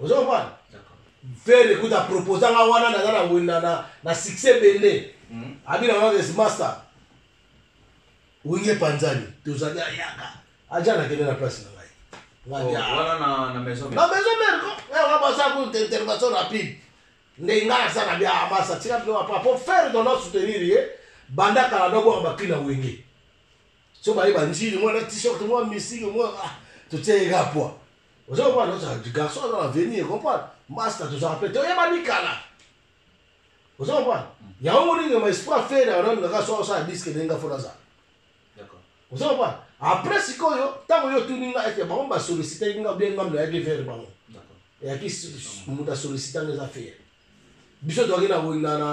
ozo comprendre ferre kuta proposa nga wana naza na wenda na, na succès ebele mm. abina nga des master wenge panzani tozali ayaka aja nakende na place na ngai oh, ah. na maison mère ko nga basa ko intervention rapide nde nga asa na bia amasa tika bino apa po ferre dono soutenir ye banda kala nobwaka bakri na wenge so baye banjili mwana t-shirt mwa misiki mwa ah, totie ye ka poa oza comprendre oza garçon aza na venir comprendre masta tozaka mpe toyebani kala oza comprendre mm. yango moningi ma esprit afere yango kaka soki osala diske ndenge afona azala oza comprendre après sikoyo ntango yo otuni nga ete bango basollicitaki nga bien ngambo nayaki vere bango eyaki moto asollicita nga eza fere biso toyaki na na na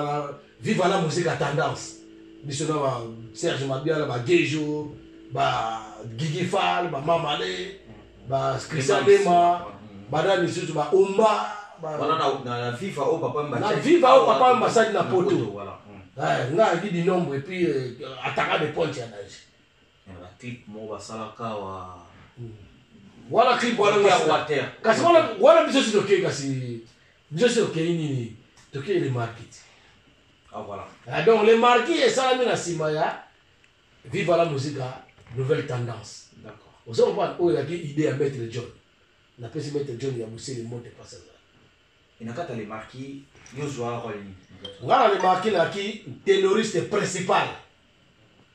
viva la musique à tendance biso na ba Serge Mabiala ba Gejo ba Gigi Fall ba Mamale ba Christian Dema ba na misusu ba Omba ba wana na na viva au papa mba na viva au papa mba sadi na poto voilà eh, nga di nombre et puis euh, ataka de ponte ya nage ba clip mo basalaka wa wana clip wana water kasi wana wana biso si tokei kasi biso si tokei nini tokei le market ah voilà ah, donc le market esalami na nsima ya viva la musica nouvelle tendance d'accord ozo comprendre oyo ezalaki idée ya maître john napesi maître john ya mosele monte pasa enakata le marquis yozwa role nini nga na le marquis nayaki terroriste principal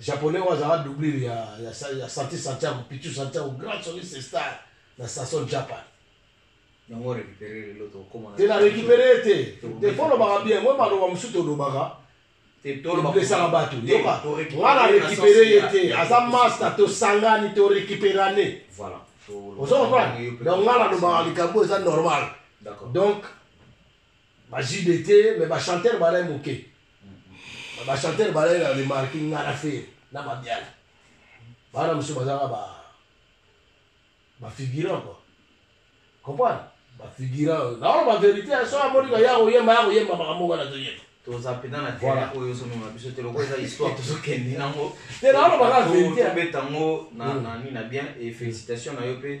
Japonais oyo azalaka doublure ya, ya, ya Santi Santiago, Pichu Santiago, grand soliste star na Sasson Japan. Yango récupérer lelo tokoma. Te na récupérer te. Te fo lobaka bien, moi maloba mosusu tolobaka. tolobesaka bato yoka nga na récupéré ye te aza masta tosangani to récupérane ozo comprendre donc nga nalobaka likambo eza normal donc Ba JB te mais ba chanteur balai moke. Ba chanteur balai na remarque ngara fer na mabiala. Bana mosusu bazalaka ba ba figurant quoi. Comprendre? Ba figurant. Na wana ba verite ya soa moni ka yako yemba yako yemba makambo ngana to yemba. toza mpenza na tela oyo ozomema biso te lokola eza histoire tozokende nango te naolobaka verite abeta yango na nini na bien e félicitation na yo mpe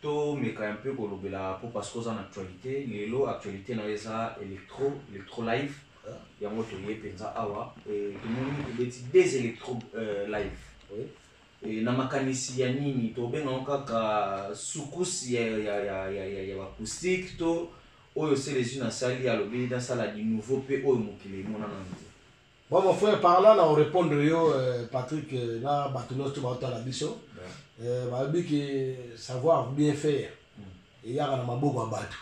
To meka un peu ko lobela po parce que oza na actualite lelo actualite na yo eza electro electro live yango to ye penza awa et to moni ko beti des electro euh, live oui et na makanisi ya nini to benga ngo kaka soukous ya ya ya ya ya, ya acoustique to oyo c'est les unes asali alobi na sala du nouveau pe oyo mokili emona na nzela Bon mon frère par là na o répondre yo euh, Patrick euh, na bato nyonso baotala biso euh, balobi ke savoir bien faire eyaka na maboko ya bato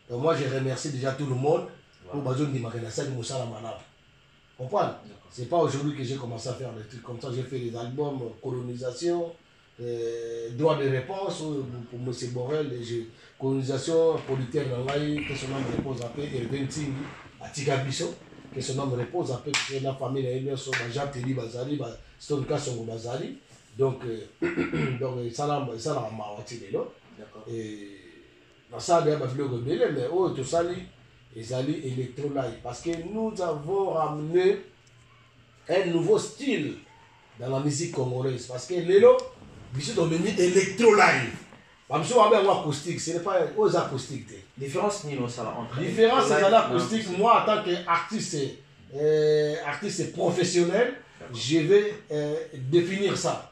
donc moi je remercie déjà tout le monde oyo bazondimaka nasali mosala malamu comprendre c'est pas aujourd'hui que j'ai commencé à faire des trucs comme ça j'ai fait des albums colonisation Euh, droit de réponse oyo pour m borel colonisation producteur na ngai que son ame repose ape herve ntingi atika biso que son ame repose ape biso na famille na ye nyonso bajean teli bazali bastone kasongo bazali donc euh, donc esalaka mawa ti lelo nasala deya babiloko ebele mais oyo tosali ezali électrolai parce que nous avons ramené un nouveau style dans la musique congolaise parce que lelo biso tomemi electro live bamosusu babe yango acoustique ce n'est pas oyo eza acoustique te différence nini osala entre différence ezali acoustique moi en tant que artiste euh, artiste professionnel je vais euh, définir ça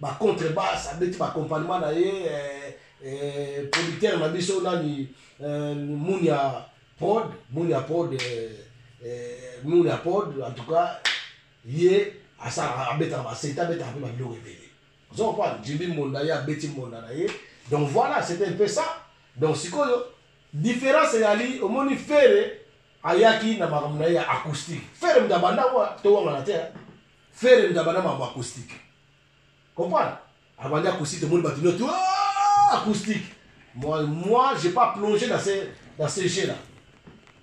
ba contre basse abeti ba accompagnement na ye eh, eh, producteur na biso nani eh, munia prod munia prod eh, eh, munia prod en tout cas ye asalaka abetaka basete abetaka mpe babiloko ebele ozo comprendre jimbi monda ye abeti monda na ye donc voilà c'était un peu ça donc sikoyo différence eyali omoni fere ayaki na makambo na ye ya acoustique fere moto abanda wa towangana te Ferre ndaba na mambo acoustique. Comprendre Abandi acoustique, tout le monde va dire acoustique. Moi, moi j'ai pas plongé dans ces, dans ces jeux-là.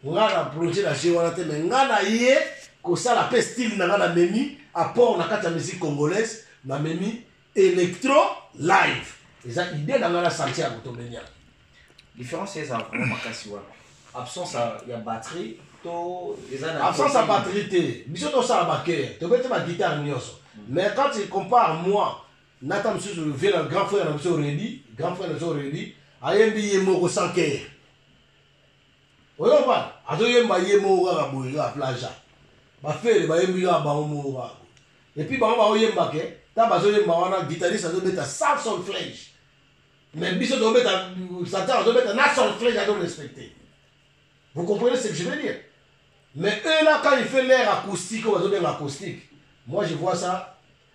Nga na plongé dans jeu wana te, mais nga na ye kosala pe style na nga na memi apport na kati ya musique congolaise na memi electro live eza idée na ngai na santiago tobenia différence eza vraiment makasi wana absence ya batterie to eza na absence ya batterie te biso tosala bakere tobeti baguitare nyonso mm. mais quand il compare moi nata mosusu vie na grand frère na biso redi grand frère na biso redi ayembi ye moko sans kere oyo komprendre azoyemba ye moko kaka boye kaka plaja bafele bayembi kaka bango moko kaka epuis bango baoyemba ke ta bazoyemba wana guitariste azobeta sans solflage mais biso tozobeta satan azobeta na solflage azo respecte vous comprenez ce que je veux dire mais eux là quand il fait l'air acoustique oyo bazobenga acoustique moi je vois ça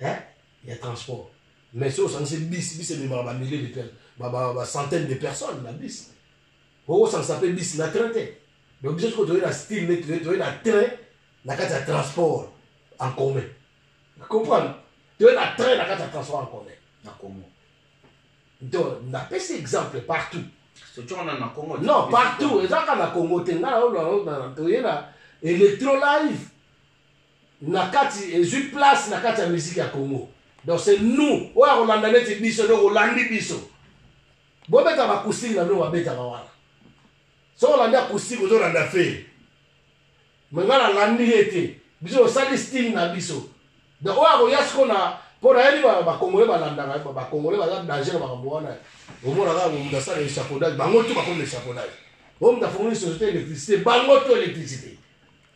hein ya transport mais soki osangisi bis bis ememaka bamillier de personnes bacentaine de personnes na bis okosangisa mpe bis na train te donc biso sikoyo toyei na style nde toyei na train na kati ya transport en commun comprendre toyei na train na kati ya transport en commun na congo donc napesi exemple partout non partout ezaka na congo te ngai naolaa toyei na electro live na kati ezui place na kati ya musique ya Congo donc c'est nous oyo akolanda neti biso donc olandi biso bobeta ba acoustique na bino babetaka wana soki olandi acoustique ozolanda fere me ngai nalandi ye te biso osali style na biso donc oyo akoya siko na mpo nayebi bakongole balandaka bakongole baza danger na makambo wana omona kaka moto asala echafaudage bango tu bakomi na echafaudage oyo moto afungoli société électricité bango tu électricité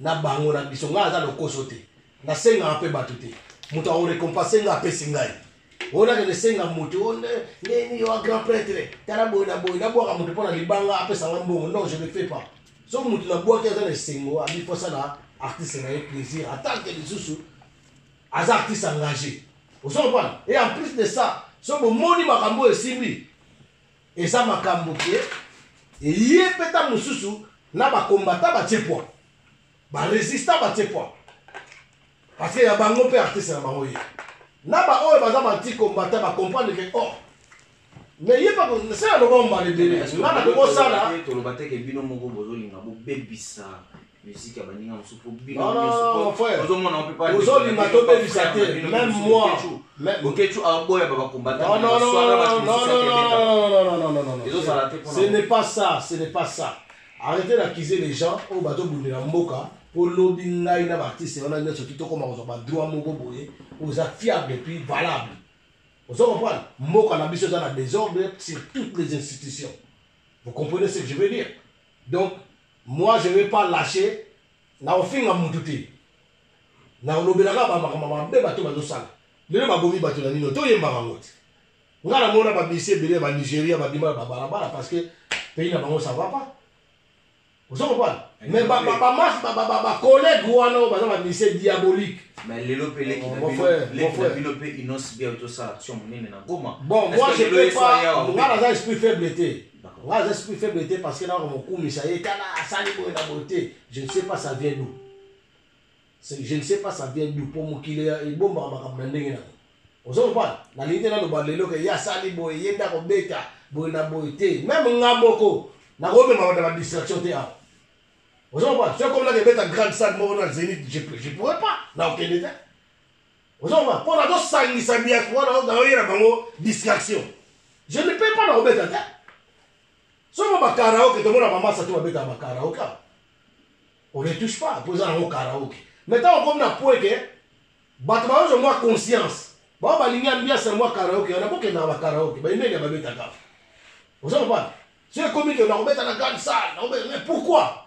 na bango na biso ngai aza lokoso te nasengaka mpe bato te moto akorekompanse ngai apesi ngai oyo nakende senga moto oh, ndeni yo grand prêtre tala boye na boye nabwaka moto mpo na libanga apesa ngai mbongo non je ne fais pas so moto nabwaki aza na esengo abi mpo asala artiste na ye plaisir atanke lisusu aza artiste engagé ozokompana et en plus de ça so bomoni makambo oyo esimbi eza makambo ke eye mpe ntango mosusu na bakombata batie pwa baresista batie pwa parce ya bango mpe artiste na bango ye na baoyo baza bantikombata bacomprendre ke or oh, mais ye se aloba mbala ebele nga na kokosala toloba teke bino moko bozolinga bobebisa musique ya baninga mosusu po binoozomona mpe paozolinga tobebisa te meme moi okecu aboya bakombatezosala te ce n'est pas ça ce n'est pas ça arrêtez d'accuser les gens oyo bazobundela mboka mpo lobi ngai na baartiste wana nyonso ti tokoma kozwa badroit moko boye oza fiable puis valable ozo comprendre mboka na biso eza na désordre sur toutes les institutions vous comprenez ce que je veux dire donc Moi je vais pas lacher na kofinga mutu te na kolobela kaka bamakambo mabe bato bazosala lelo babomi bato na nino toyembaka yango te ngai namona bamisi ebele ya banigeria babima na babalabala parce que pays na bango ça va pas ozo comprendre mais bamas bacollègue wana oyo baza bamisi diabolique mais lelo mpe leki na bino mpe inonce bia tozosala action monene na goma bon moi je peux pas ngai naza esprit faible te nga aza esprit faible te parce que nako mokumisa ye tala asali boye na boye te je ne sais pas ça vient d'où je ne sais pas ça vient d'où mpo mokili ebombaka makambo na ndenge nango ozo comprendre nalingi te naloba lelo ke ye asali boye ye nde akobeta boye na boye te meme nga moko nakomema banda badistraction te awa ozo comprendre soki komi naka ebeta grande salle moko na zénith je pourrais pas nakokende te ozomona mpo nazosangisa diaspora naoyela bango distraction je ne peux pas na kobeta te soki ba karaoke tomona bamasa te babetaka ba karaoke on ne touche pas mpo eza nango karaoke mais ntango okomi na po ete bato baozo mwa conscience bao balingi ambiance ya mwa karaoke wana bokendaka ba karaoke bainenge babetaka ozo kopana soki ekomi ke nakobeta na grande salle nakobeta mais pourquoi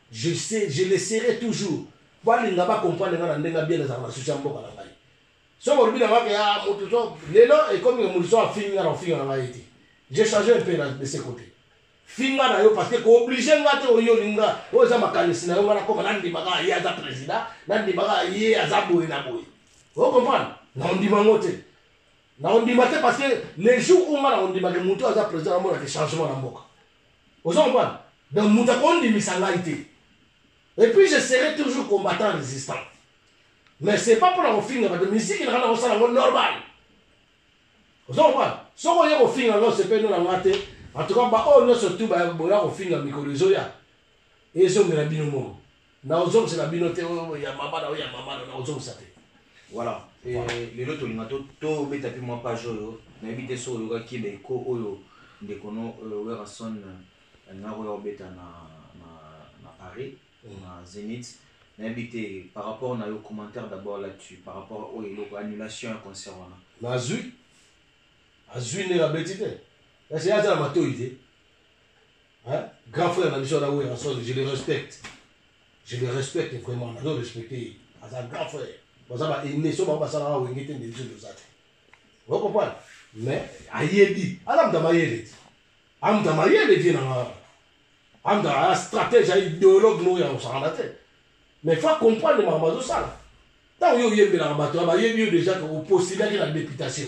Je sais, je le serai toujours. Balinga ba comprendre nga na ndenge ya bien nazalaka na souci ya mboka na ngai. Soki olobi na nga ke ya ah, moto to lelo ekomi ke moto so afingi nga na ofinga na ngai te. Je change un peu na de ce côté. Finga na yo parce que ko oblige nga te oyoli nga. Oyo eza makanisi na yo nga nakoma na ndima kaka ye aza president, na ndima kaka ye aza boye na boye. O comprendre? Na ondima ngo te. Na ondima te parce que le jour où nga na ondima ke moto aza president na mona ke changement na mboka. ozo comprendre donc moto akondimisa ngai te et puis je serai toujours combattant résistant mais c'est pas mpona kofinga bato miziki na kana kosala yango normal ozo comprendre soki oye kofinga yango osepeli na ngai te en tout cas baoyo oh, nyonso tu boya kofinga mikolo ezoya ezongela bino moko nakozongisela bino te oyo ya mama na oyo ya mama na nakozongisa te voilà lelo tolinga tobeta mpe mwa page oyo nayebi te soki oyokaki ba eko oyo ndeko no euh, werrason euh, alingaki oya kobeta na paris mm. na zenith nayebi te par rapport na yo commentaire d'abord là-dessus par rapport oyo eloko annulation ya concert wana nazwi azwi ndenge abeti te kasi ye aza na matoi te Hein? Grand frère na biso na Werrason, je le respecte. Je le respecte vraiment, nazo respecter. Aza grand frère. Baza ba aînés, so ba basala ba wenge te ndebiso dozate. Vous comprenez? Mais ayebi, ala mta mayele. Amta mayele vie na nga. Amta a stratège, a idéologue no ya osala te. Mais faut comprendre ma mazo sala. Tant yo yembela bato, ba yebi yo déjà que opostulaki la députation.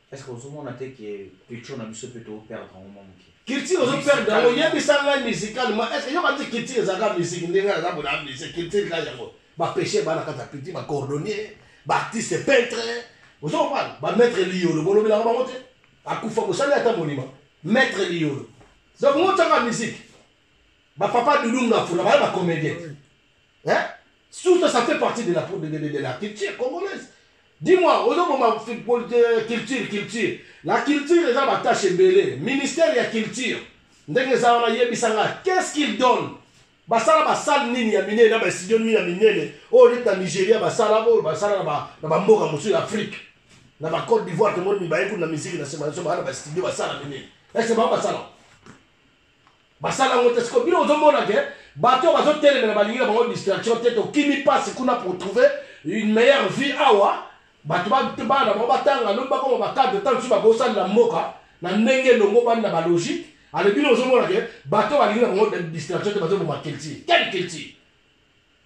Est-ce que ozo mona te que pecho na biso pe to perdre yango mwa muke? Culture ozo perdre yango, yebisa ngai musicalement est-ce que yoka ti culture eza ka musique ndenge ngai naza boye na musique culture ka yango ba peche ba na kati ya culture ba cordonnier ba artiste peintre ozo comprendre ba maître liyolo bolobelaka bango te akufa bosali ata monument maître liyolo donc ngo tiaka musique ba papa dudum na fula ba ba comédien hein tout ça ça fait partie de la de, de, de, de la culture congolaise dis-moi ozoboma euh, culture culture la culture eza batache ebele ministère ya culture ndenge eza wana yebisa ngai qu'est-ce qu'il donne basala basale nini ya minene na bastudio nini ya minene oyo oh, neti na nigeria basala oyo oh, basala na bamboka mosusu ya afrique na bacote d'ivoire tomoni mibaye kuna na miziki na nsima na biso baa na bastudio basala minene ese bango basala basala yango te siko bino ozomona ke bato bazotelemela balingi na bango distraction te tokimi mpasi kuna pour trouver une meilleure vie awa bato bana bango batanga lobi bakoma bacadre ntango mosusu bakosalela mboka na ndenge elongo bani na balogique ale bino ozomona ke bato balingi na bango distraction te bazoboma culture quelle culture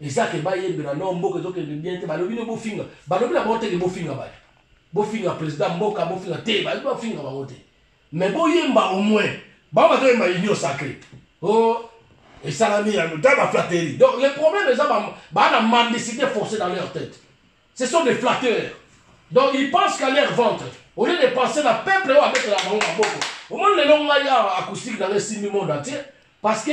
eza ke bayembela no mboka ezokende bien te balobi nde bofinga balobi na bango te ke bofinga bato bofinga président mboka bofinga te bayebi bafinga bango te mais boyemba au moins bango bazoyemba union sacré o oh, esalami ya ta baflatterie donc le problème eza baa na mendicité forcé dans leur tête ce sont des flatteurs donc ils pensent qu'à leur ventre au lieu de penser na peuple oyo abetela bango maboko omoni lelo ngai awa acoustique na ngai esimbi monde entier parce que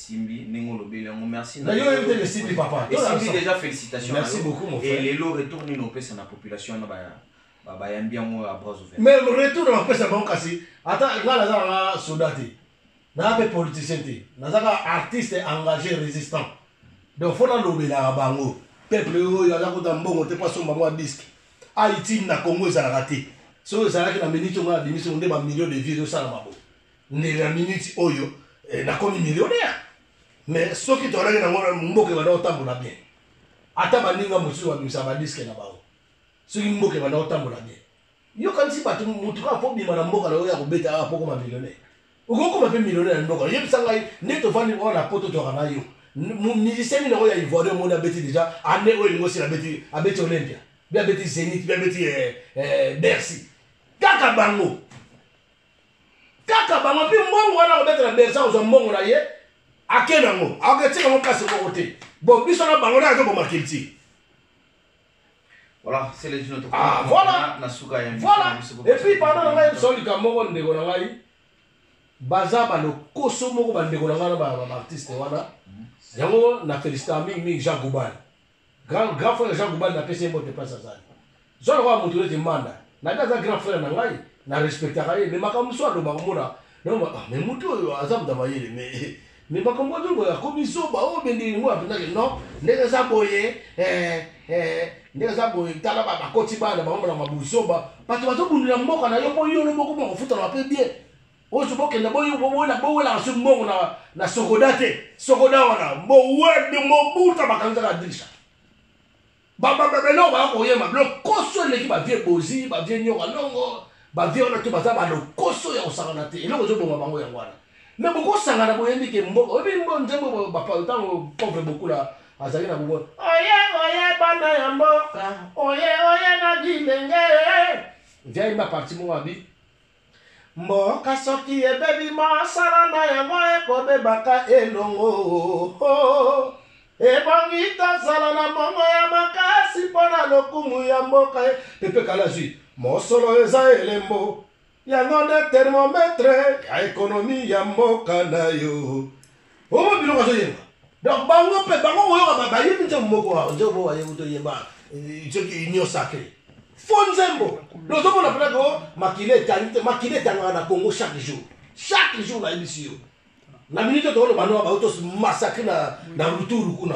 esimbi ndenge olobeli yango merci na yo oyebite esimbi papa esimbi déjà félicitation merci beaucoup mon frère et lelo retour nini opesa na population na baya bayambi yango ya bras ouvert mais retour na kopesa bango kasi ata ngai naza nanga soda te naza mpe politicien te naza kaka artiste engagé résistant donc fo nalobelaka bango peuple oyo aza kota mbongo te mpo asomba mwa diske haïti na congo ezalaka te soki ezalaki na miniti ongo na bimisi nde bamillion de vie ezosalama boye ndele ya miniti oyo eh, nakomi millionnaire mais soki toalaki nango mboka ebanda kotambola bien ata baninga mosusu babimisa badiske na bango soki mboka ebanda kotambola bien yokanisi bato motu kaka mpo bima na mboka na yo ya kobeta awa mpo koma millionnaire okokoma mpe millionnaire na mboka oyebisa ngai nde tofandi oyo na poto toyaka na yo musicien nini yango ya ivoire omoni abeti deja ane oyo elingo sila abeti abeti olympia mpe abeti zenit mpe abeti eh, eh, bercy kaka bango kaka bango mpe mbongo wana akobetela bersa kozwa mbongo na ye ake nango akoketika yango place moko te bon biso na bango nde azoboma culture Voilà, c'est les autres. Ah, voilà. Voilà. Et puis, pardon, on a eu sur le Cameroun, on a eu baza balokoso moko bandeko na ngai na baartiste wana yango na felicitaka mingi mingi jean gobal Grand grand frère Jean Goubal na pesi ye mbote place azali. Zwa lokola moto neti Manda. Nabi aza grand frère na ngai, na respectaka ye mais makambo mosusu alobaka omona donc ah mais moto oyo aza moto ya mayele mais mais makambo wana boye akomi zoba oyo bende ngo apenza ke non ndenge eza boye eh eh ndenge eza boye tala ba bakoti bana bango na mabuzoba bato bazobundela mboka na yo mpo yo moko moko ofutana pe bien ozo bokenda bowelaka soki mbongo na sokoda te sokoda wana mowede mobuta bakanzaka dirisha babababeloko baya koyema bilokoso eleki bavie bozi bavie nyoka longo bavie wana to baza balokoso ya kosangana te eloko ezoboma bango yango wana me bokosangana boyebi ke mboka oyebi mbo nzembo ntango pauvre bokula azali na bongo oye oye bana ya mboka oye oye na bilenge viayemba parti moko abi Mboka soki ebebi mosala na yango ekobebaka elongo. Ebongi tozala na mongo ya makasi mpo na lokumu ya mboka. Pepe Kalazwi, mosolo eza elembo. Yango nde thermomètre ya ekonomi ya mboka na yo. omo biloko azoyemba donc bango mpe bango koyoka bayembi nzembo moko wa nzembo moko wayebi toyemba eh, soki union sacré fo nzembo lozomona mpena ko makila etangi te makila etangaka na congo chaque jour chaque jour nayebisi yo na minute tokoloba noa bautos massacre na, na ruturu kuna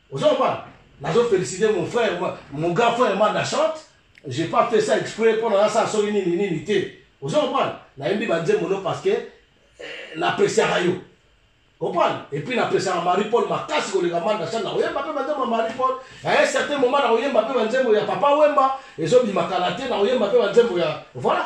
ozo comprendre nazo féliciter mon frère mon grand frère manda chante j'ai pas fait ça exprès mpo na nasala soki nini nini te ozo comprendre nayembi banzembo no parce que eh, napreciaka yo comprendre epuis napesaka marie paul makasi koleka manda chante nakoyemba mpe banzembo ya marie paul na un certain moment nakoyemba mpe banzembo ya papa wemba ezobima kala te nakoyemba mpe banzembo ya voilà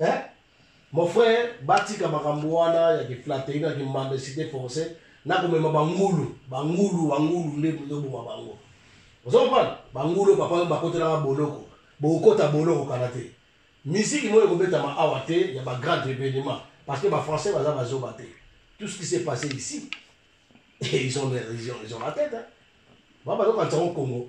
eh? mon frère batika makambo wana ya kiflateri na kimandesite forcé na komema bangulu bangulu bangulu nde ezoboma bango ozo comprendre bangulu papa oyo bakotelaka boloko bokokota boloko kala te misiki moyo ekobetama awa te ya bagrande événement parce que bafrançais baza bazoba te tout ce qui s'est passé ici et ils ont, ils ont, ils ont la tête hein. babazokanisa ngo congo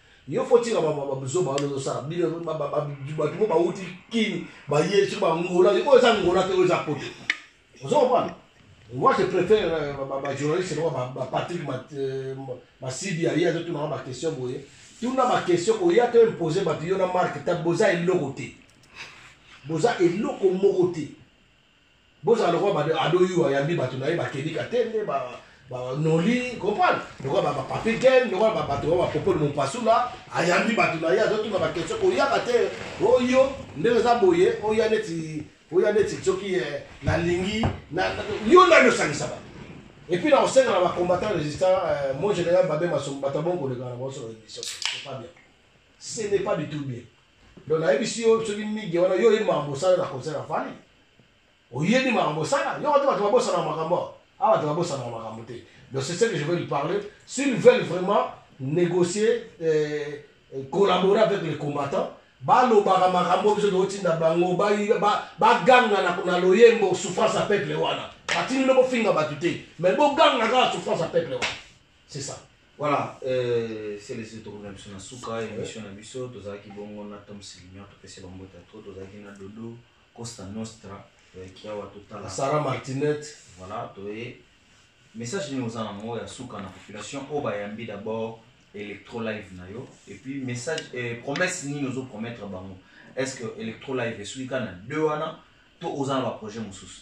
yo faut tika ba ba buzoba wana ozosala bino bato mo bawuti kini baye soki bangola oyo eza ngola te oyo eza poto ozo comprendre moi je préfère bajournaliste euh, lokola bapatrick euh, masidi aye azotunaka baquestion boye tuna baquestion oya to impose bato yo na marke ta boza eloko te boza eloko moko te Bozala lokola ba ado yu ayambi bato na ye bakeni katende ba ba noli comprendre lokola ba ba papi ken lokola ba bato ba popol mompasula ayambi bato na ye azotuna ba question koyaka te oyo oh, ndenge eza boye oya oh, neti oya oh, neti soki eh, nalingi yo nani osangisa bato et puis nakosenga na bacombattant résistant eh, mon général babe masombo bato abongo kolekana baosolo émission c'est pas bien ce n'est pas du tout bien Donc nayebisi yo soki migue wana yo oyebi makambo osala na concert ya fani oyebi makambo osala yo kati bato babosanaka makambo awa awa bato babosanaka makambo te donc c'est ce que je veux lui parler s'ils veulent vraiment négocier euh, euh collaborer avec les combattants balobaka makambo biso tokotinda bango baganga na, na loyembo souffrance ya peuple wana batindi no bofinga bato te mais boganga kaka souffrance ya peuple wana C'est ça. Voilà, euh, c'est les autres na biso na suka émission na biso tozalaki bongo na Tom Silignor topesi bango ta trop tozalaki na Dodo Costa Nostra toyaki awa totala Sarah Martinet voilà toye message nini oza nango ya suka na population oyo bayambi d'abord electro live na yo et puis message eh, promesse nini ozo promettre bango est ce que electro live esuki kaka na deux wana to oza na baprojet mosusu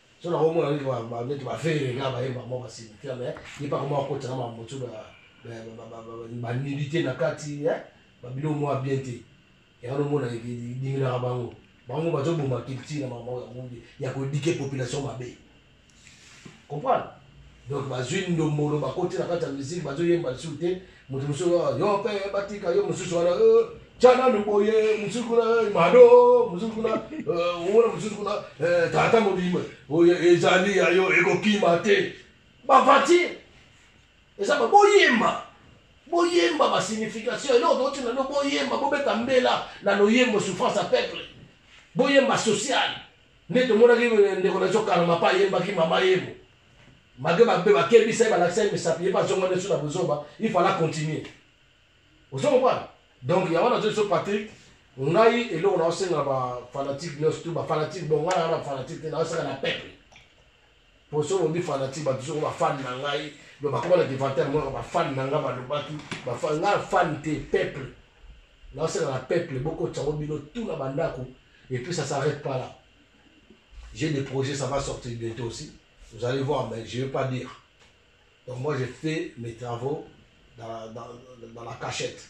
so na komona neti neti ba ferre nga bayemba mwa basilika me ye mpe akoma akota na makambo mosusu banilite na kati babilo mwa bien te yango nomona dinginaka bango bango bazoboma culture na makambo ya kodike population mabe comprendre donc bazwi ndombolo bakoti na kati ya miziki bazoyemba lisusu te moto mosusu yo mpe batika yo mosusu wana tya nanu boye mosusu kuna mado mosusu kuna omona mosusu kuna tata mobimba oyo ezali ya yo ekokima te bavati eza baboyemba boyemba basignification eloko tokoti nano boyemba bobeta mbela na loyembo souffrance ya peuple boyemba sociale nde tomonaki ndeko na biso kaloma mpe ayembaki mama yemo malgre babe bakebisa ye balakisa ye misapi ye mpe azonga nde so na bozoba il fala continuer ozo comprendre donc yango nazo biso patrick ngai eloko naosenga bafanatique nyonso tu bafanatique bongo ngai naa na fanatique te naosaka na peuple poso olobi fanati bato soko bafani na ngai do bakoma na devante yango yaka bafani na ngai balobaki ngai afani te peuple naoseka na peuple bokotisa yango bino tout na bandako et puis ça s'arrête pas là j'ai des projets ça va sortir bientôt aussi vous allez voir mais je vais pas dire donc moi j'ai fait mes travaux dans, dans, dans la cachette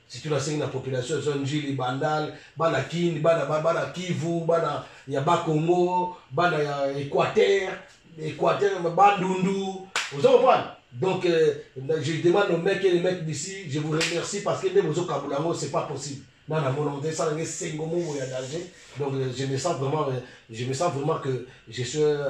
surtout nasengi na population ya zwa njili bandal bana kin bana ba- bana kivu bana ya bakongo bana ya équateur équateur bandundu oza comprendre donc euh, na- je demande au mec et les mecs d'ici je vous remercie parce que nde bozokabula yango c'est pas possible na na mona nde esala nge sengo momo ya danger donc euh, je me sens vraiment euh, je me sens vraiment que je suis euh,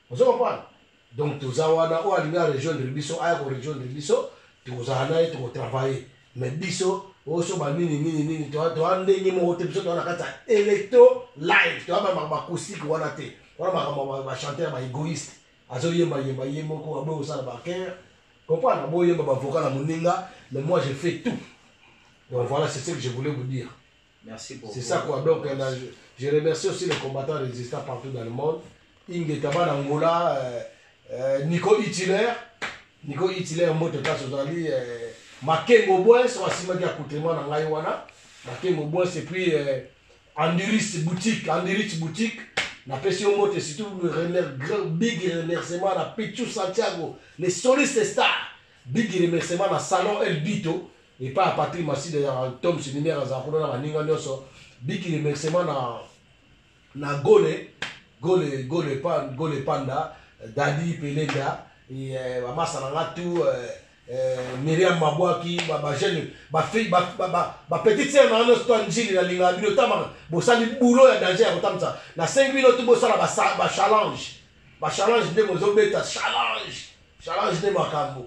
ozo comprendre donc toza wana oyo alingi arejoindre biso aya korejoindre biso tokozala na ye tokotravaille mais biso oso banini nini nini toa ndenge moko te biso toa na kati ya electro live toa bamaka bacoustique wana te wana makambo bachanteur baegoïste azoyemba yemba ye moko aboyi kosala baker comprendre aboyi yemba bavoka na moninga mais moi je fais tout donc voilà c'est ce que je voulais vous dire Merci pour C'est ça quoi. Donc, euh, là, je, je remercie aussi les combattants résistants partout dans le monde. Ingeta bana Angola, euh, euh, Nico Hitler, Nico Hitler, Moto Tasso Zali, euh, Makengo Bois, soit Sima Dia Koutema, Nangaï Wana, Makengo Bois, et puis euh, Andiris Boutique, Andiris Boutique, na pesi yo mbote surtout le remer- grand big remerciement na pichu santiago le soliste star big remerciement na salon el bito epa ya Patrick Masida ya Tom Sinimera azala kuna na baninga nyonso biki remerciement na na Gole Gole Gole Pan Gole Panda Dadi Pelenda et euh, ba masala nga tout euh, euh, Myriam Mabwaki ba ba jeune ba fille ba ba ba, ba petite sœur na nyonso to njili na linga bino tama bosali boulot ya danger ya kotamisa na 5 bino tout bosala ba ba challenge ba challenge nde bozobeta challenge challenge nde makambo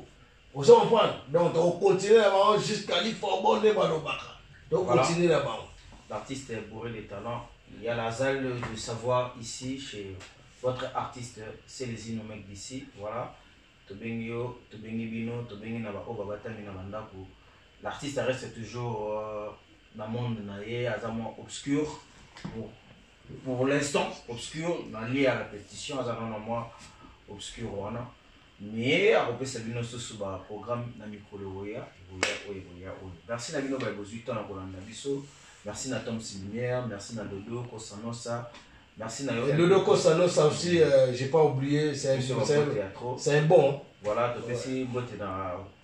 Ozo comprendre? Donc toko continuer na bango jusqu'à l'Ifobo nde balobaka. Toko Voilà. continuer na bango. L'artiste est bourré de talent. Il y a la salle de savoir ici chez votre artiste Celezino mec d'ici. Voilà. Tobengi yo, tobengi bino, tobengi na ba oba batami na bandaku. L'artiste reste toujours euh, na monde na ye, aza mwa obscur. Pour, pour l'instant, obscur, na lia la pétition, aza na mwa obscur wana. Nye akopesa bino susu ba programmes na mikolo ekoya, ekoya oyo ekoya oyo. Merci na bino baye bozui temps ya kolanda biso. Merci na Tom's Lumière, merci na Dodo Kossa Nossa, merci na yo Dodo Kossa Nossa aussi, j'ai pas oublier, c'est un bon. Voilà, topesi mbote na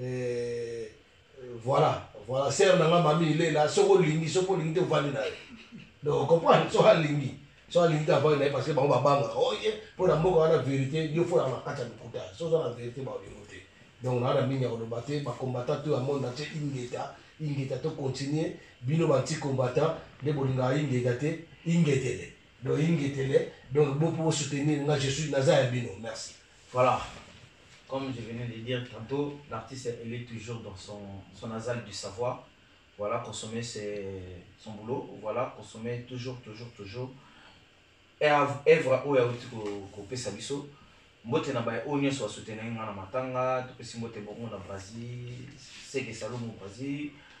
Eh, voilà voilà sere na nga mami ilela soki olingi soki olingi te ovandi na ye donc comprendre soki alingi soki alingi te avandi na ye parce que bango babangaka oye mpo na mboka wana verité yo fo na makati ya lokuta soki oza na verité baolingo te donc naa na mingi ya koloba te bakombata to ya monde atie ingeta ingeta to continue bino banti combatant nde bolingaka ingeta te ingetele donc ingetele donc bopo bosoutenir nga je suis naza ya bino merci Voilà comme je venais de dire tantot l'artiste il est toujours dans son son nasal du savoir voilà consommer c'est son boulot voilà consommer toujours toujours toujours evre oyo auti kopesa biso mbote na baye oyo nyonso basutenaki ngai na matanga topesi mbote bongo na brasil seke salomo brasil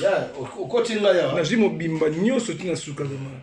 Yeah, okoti ngai awa. Nazwi mobimba nyonso ti na suka vraiment.